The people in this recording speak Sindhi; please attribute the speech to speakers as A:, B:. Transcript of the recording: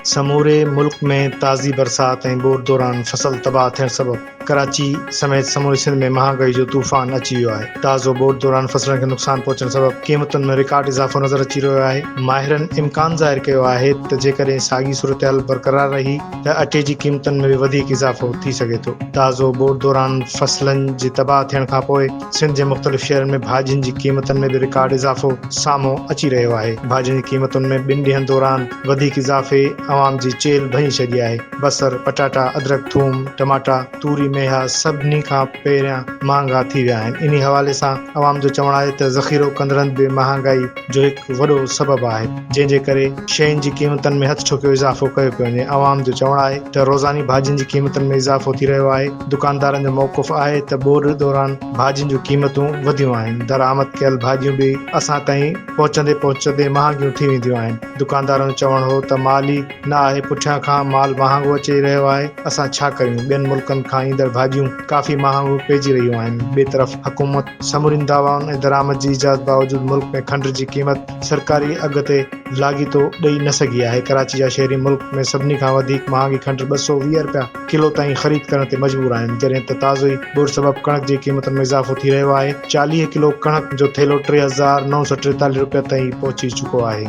A: سموري ملڪ ۾ تازي برسات ۽ ٻوڏ دوران فصل تباهه ٿيڻ سبب ڪراچي سميت سموري سنڌ ۾ مهانگائي جو طوفان اچي ويو آهي. تازو ٻوڏ دوران فصلن کي نقصان پهچڻ سبب قيمتن ۾ رڪارڊ اضافو نظر اچي رهيو آهي. ماهرن امڪان ظاهر ڪيو آهي ته جيڪڏهن ساڳي صورتحال برقرار رهي، ته اٽي جي قيمتن ۾ به وڌيڪ اضافو ٿي سگهي ٿو. تازو بوٽ دوران فصلن جي تباهه ٿيڻ کانپوء سنڌ جي مختلف شهرن ۾ ڀاڄين جي قيمتن ۾ به رڪارڊ اضافو سامهون اچي رهيو آهي. ڀاڄين جي قيمتن ۾ ٻن ڏينهن دوران وڌيڪ اضافي عوام جي چيلهه ڀڃي ڇڏي آهي. بصر، پٽاٽا، ادرڪ، ٿوم، ٽماٽا، توري ميها سڀني کان پهريان مهانگا ٿي ويا آهن، انهي حوالي سان عوام جو چوڻ آهي ته ذخيرو ڪندڙن به مهانگائي جو هڪ وڏو سبب آهي، جنهن جي ڪري شين جي قيمتن ۾ هٿ ٺوڪيو اضافو ڪيو پيو وڃي، عوام جو چوڻ آهي ته روزاني ڀاڄين جي قيمتن ۾ اضافو ٿي رهيو آهي، دڪاندارن جو موقف آهي ته ٻوڏ دوران ڀاڄين جون قيمتون وڌيون آهن، درآمد ڪيل ڀاڄيون به اسان تائين پهچندي پهچندي مهانگيون ٿي وينديون آهن، دڪاندارن جو چوڻ هو ته مالي. نه آهي پٺيان کان مال مهانگو اچي رهيو آهي اسان ڇا ڪريون ٻين ملڪن کان ايندڙ ڀاڄيون ڪافي مهانگو پئجي رهيون آهن ٻئي طرف حڪومت سمورين دعوائن ۽ درآمد جي اجازت باوجود ملڪ ۾ کنڊ جي قيمت سرڪاري اگهه تي لاڳيتو ڏئي نه سگهي آهي ڪراچي جا شهري ملڪ ۾ سڀني کان وڌيڪ مهانگي کنڊ ٻه سؤ ويهه رپيا ڪلو تائين خريد ڪرڻ تي مجبور آهن جڏهن ته تازو ئي ٻوڏ سبب ڪڻڪ جي قيمتن ۾ اضافو ٿي رهيو آهي چاليهه ڪلو ڪڻڪ جو ٿيلهو ٽي هزار نو سؤ ٽيتاليهه رپين تائين پهچي چڪو آهي.